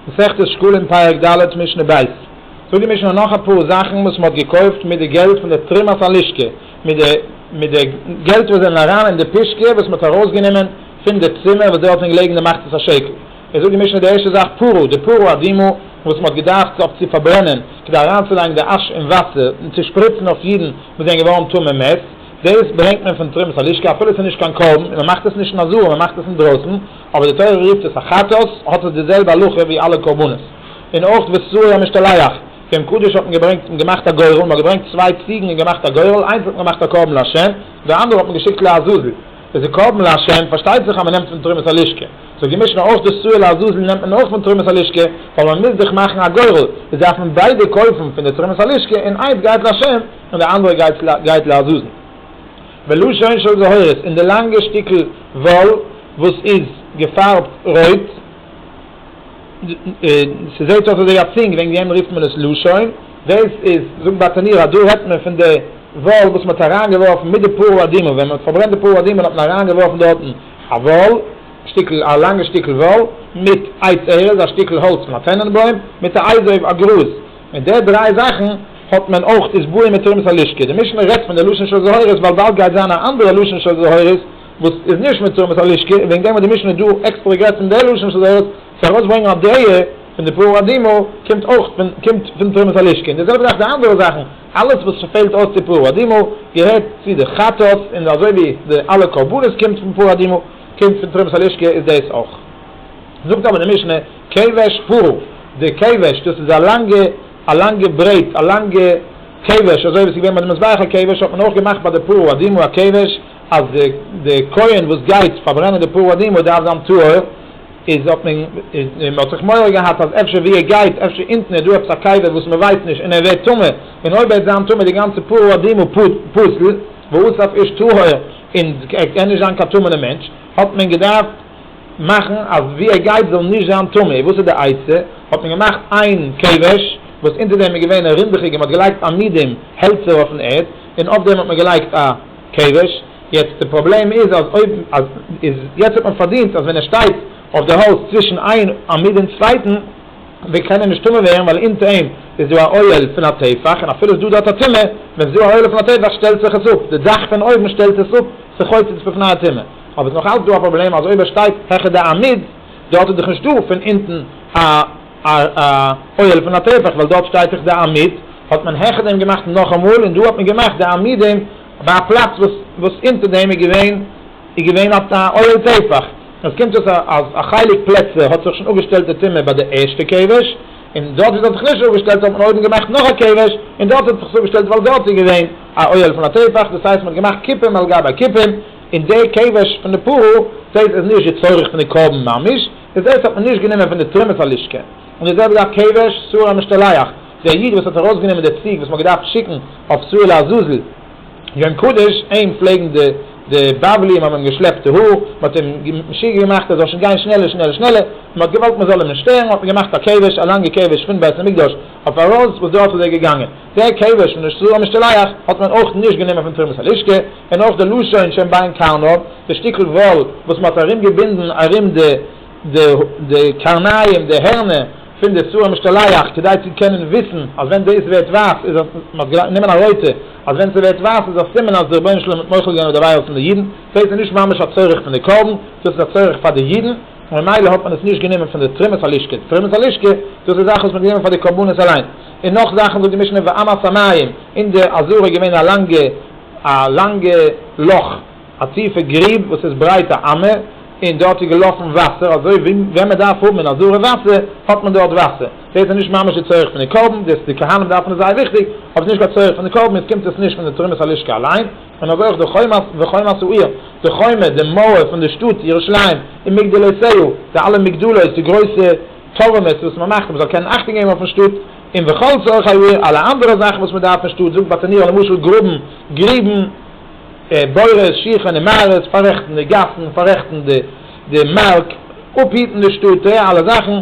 מסכת שקלים פרק ד' משנה ב' זאגט די משנה נאך אפאר זאכן וואס מען האט געקויפט מיט די געלט פון די תרומת הלשכה מיט די מיט די געלט וואס זענען אריין אין די פישקע וואס מען האט ארויסגענומען פון די צימער וואס די האט מען געלייגט אין די מחצית השקל איז זאגט די משנה די ערשטע זאך פרו די פרו אדמו וואס מען האט געדארפט אויף צו פארברענען כדי אריינצולייגן די אש און וואסער און צו שפריצן אויף אידן וואס זענען געווארן טמא מת דאס ברענגט מען פון תרומת הלשכה אפילו עס איז נישט קיין קרבן און מען מאכט עס נישט אין א זאל מען מאכט עס אינדרויסן אבער די תורה רופט עס א חטאת, האט עס די זעלבע הלכה ווי אלע קרבנות. און אויך וסעו המשתלח, פורים קדוש האט מען געברענגט און געמאכט א גורל, מען האט געברענגט צוויי ציגן און געמאכט א גורל, איינס האט מען געמאכט א קרבן לה', די אנדערע האט מען געשיקט לעזאזל, עס איז קרבן לה', פארשטייט זיך אז מען נעמט פון תרומת הלשכה, זאגט די משנה אויך די סעו לעזאזל נעמט מען אויך פון תרומת הלשכה, ווייל מען מוז דאך מאכן א גורל, איז דארף מען ביידע קויפן פון די תרומת הלשכה, און איינס גייט לה' און די אנדערע גייט לעזאזל. ולשון של זהורות אין די לאנגע שטיקל וואל וואס איז געפארבט רויט, ס'זעהט אויס אזוי א צינג וועגן דעם רופט מען עס לשון, דאס איז זאגט באטעניר אז דא רעדט מען פון די וואל וואס מ'האט אריין געווארפן מיט די פרא אדימא, ווען מ'האט פארברענט די פרא אדימא האט מען אריין געווארפן דארטן א וואל שטיקל א לאנגע שטיקל וואל מיט עץ ארז א שטיקל האלץ פון א טענענבוים מיט א אייז אויף א גראז מיט די דריי זאכן. האט מען אויך איז בוער מיט תרומת הלשכה. די משנה רעדט פון די לשון של זהורות ווייל באלד גייט זיין א אנדערע לשון של זהורות וואס איז נישט מיט תרומת הלשכה און וועגן דעם האט די משנה דא עקסטערע גערעדט פון די לשון של זהורות צו ארויס ברענגן א דעה פון די פרא אדימו קומט אויך פון קומט פון תרומת הלשכה און די זעלבע זאך די אנדערע זאכן אלעס וואס ס'פעלט אויס צו פרא אדימו געהערט צו די חטאת און אזוי ווי די אלע קרבנות קומט פון פרא אדימו קומט פון תרומת הלשכה איז דאס אויך זאגט אבער די משנה כבש פרא די כבש דאס איז א לאנגע. א לאנגע ברעט, א לאנגע כבש, אזוי ווי עס איז געווען ביי די מזבח הכבש, האט מען אויך געמאכט ביי די פר' אדמו ר כבש, אז די די כהן וואס גייט פארברענען די פר' אדמו ר דארף זיין טהור, איז האט מען איז מען האט זיך מורא געהאט אז אפשר ווי ער גייט, אפשר אונטן איז דא עפעס א קבר וואס מען ווייסט נישט, און ער ווערט טמא, און אויב ער וועט זיין טמא די גאנצע פר' אדמו ר פסל, והוסף איש טהור, און ער קען נישט זיין קיין טמא'נע מענטש. האט מען געדארפט מאכן אז ווי ער גייט זאל נישט זיין טמא, און וואס איז די עצה? האט מען געמאכט איין כבש וואס אונטער דעם איז געווען א רונדעכיגע, מען האט געלייגט עמידים, העלצער אויפן ערד, און אויף דעם האט מען געלייגט א כבש, יעצט די פראבלעם איז אז אויב אז איז יעצט האט מען פארדינט אז ווען ער שטייט אויף די האלז צווישן איין עמוד און צווייטן, ווען קיינער נישט טמא ווערן ווייל אונטער אים איז דא א אוהל פון א טפח און אפילו איז דא דארט א טומאה ווען ס'איז דא א אוהל פון א טפח שטעלט זיך עס אפ די דאך פון אויבן שטעלט עס אפ ס'חוצץ בפני הטומאה אבער ס'איז נאך אלץ דא א פראבלעם אז אויב ער שטייט העכער די עמוד דארט איז דאך נישט דא פון אונטן א א אוהל פון א טפח ווייל דארט שטייט דאך די עמוד האט מען העכער דעם געמאכט נאכאמאל און דא האט מען געמאכט די עמודים ביי א פלאץ וואס וואס אונטער דעם איז געווען איז געווען אויף א אוהל טפח, און עס קומט אויס אז א חלק פלעצער האט זיך שוין אפגעשטעלט די טומאה ביי די ערשטע כבש, און דארט ווי עס האט זיך נישט אפגעשטעלט האט מען אויבן געמאכט נאך א כבש, און דארט האט זיך עס אפגעשטעלט ווייל דארט איז געווען א אוהל פון א טפח, דאס הייסט מען האט געמאכט כיפים על גבי כיפים, און די כבש פון די פרה דאס איז נישט די צורך פון די קרבן ממש, איז דאס האט מען נישט גענומען פון די תרומת הלשכה, און די זעלבע דארף כבש סור המשתלח, ווי א איד וואס האט ארויס גענומען די ציג וואס מען האט געדארפט שיקן אויף סור לעזאזל, יום קדוש, אים פלעגן די די בבלים האבן אים געשלעפט די האר, מען האט אים משוגע געמאכט ער זאל שוין גיין שנעלער שנעלער שנעלער, מען האט געוואלט מען זאל אים נישט שטערן, מען האט אים געמאכט א קעוועש, א לאנגע קעוועש פון בית המקדש אויף ארויס וואס דארט איז ער געגאנגען, דער קעוועש פון די שטרוי אמשתלח האט מען אויך נישט גענומען פון תרומת הלשכה, און אויך די לשון שאין בין קרניו, די שטיקל וואל וואס מען האט ארום געבינדן ארום די. די די קרניים די הערנער פון די שעור המשתלח כדי צו קענען וויסן אז ווען דאס ווערט ווייס איז אז מען האט געדארפט נעמען א רויטע אז ווען ס'ווערט ווייס איז א סימן אז דער רבונו של עולם האט מוחל געווען אויף די עבירות פון די אידן דאס איז נישט ממש א צורך פון די קרבן דאס איז א צורך פאר די אידן און ממילא האט מען עס נישט גענומען פון די תרומת הלשכה די תרומת הלשכה דאס איז זאכן וואס מען האט גענומען פאר די קרבנות אליין און נאך זאכן זאגט די משנה ואמת המים אין די עזרה איז געווען א לאנגע א לאנגע לאך. א טיפע גריב וואס איז ברייט א אמה, און דארט איז געלאפן וואסער, אזוי ווי ווען מען דארף האבן אין א זארע וואסער, האט מען דארט וואסער. דאס איז נישט ממש די צורך פון די קרבן, דאס די כהנים דארפן עס זייער וויכטיג, אבער ס'נישט קיין צורך פון די קרבן, און ס'קומט עס נישט פון די תרומת הלשכה אליין, און אזוי אויך די חומות וחומות העיר, די חומה, די מויער פון די שטאט ירושלים, און מגדלותיה, די אלע מגדלות, די גרויסע טורמעס וואס מען מאכט אז מען זאל קענען אכטונג געבן אויפן שטאט, און וכל צרכי העיר, אלע אנדערע זאכן וואס מען דארף אין שטאט, זאגט בת ענירא למשל גראבן גריבן, בורות, שיכון און מערות, פאררעכטן די גאסן, פאררעכטן די מארק, אפהיטן די שטאט, ט ע אלע זאכן,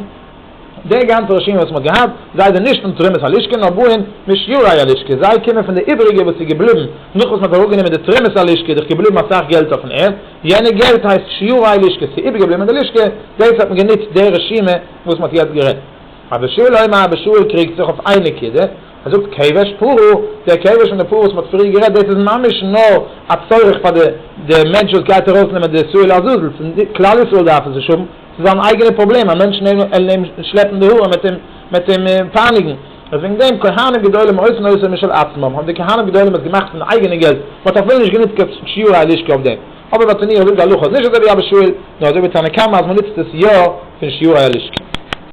די גאנצע רשימה וואס מען האט געהאט, זיי זענען נישט פון תרומת הלשכה נאר באים משיעורי הלשכה, זיי קומען פון די איבעריגע וואס איז געבליבן נאך וואס מען האט אראפגענומען די תרומת הלשכה, איז דאך געבליבן אסאך געלט אויפן ערד, יענע געלט הייסט שיעורי לשכה, ס'איז איבערגעבליבן אין די לשכה, דאס האט מען גענוצט די רשימה וואס מען האט יעצט גערעדט. אז די שואל אויב א ב ש קריגט זיך אויף איין נקודה, ער זאגט כבש פרעה, דער כבש פון די פרעה וואס מען האט פריער גערעדט, דאס איז ממש נאר א צורך פאר די די מענטש וואס גייט ארויסנעמען די שאול לעזאזל, פון די כלל ישראל דארף עס נישט האבן, ס'איז זיין אייגענע פראבלעם, א מענטש נעמען און אים שלעפן די האר מיט אים מיט אים פייניגן, און וועגן דעם כהנים גדולים עושים עושר משל עצמם, האבן די כהנים גדולים עס געמאכט פון אייגענע געלט, מען האט אפילו נישט גענוצט קיין שיעורי הלשכה אויף דעם, אבער ביי תניא'ער זאגט די הלכה אז נישט אזוי ווי אבא שאול, נאר אזוי ווי תנא קמא אז מען נוצט עס יא פון שיעורי הלשכה.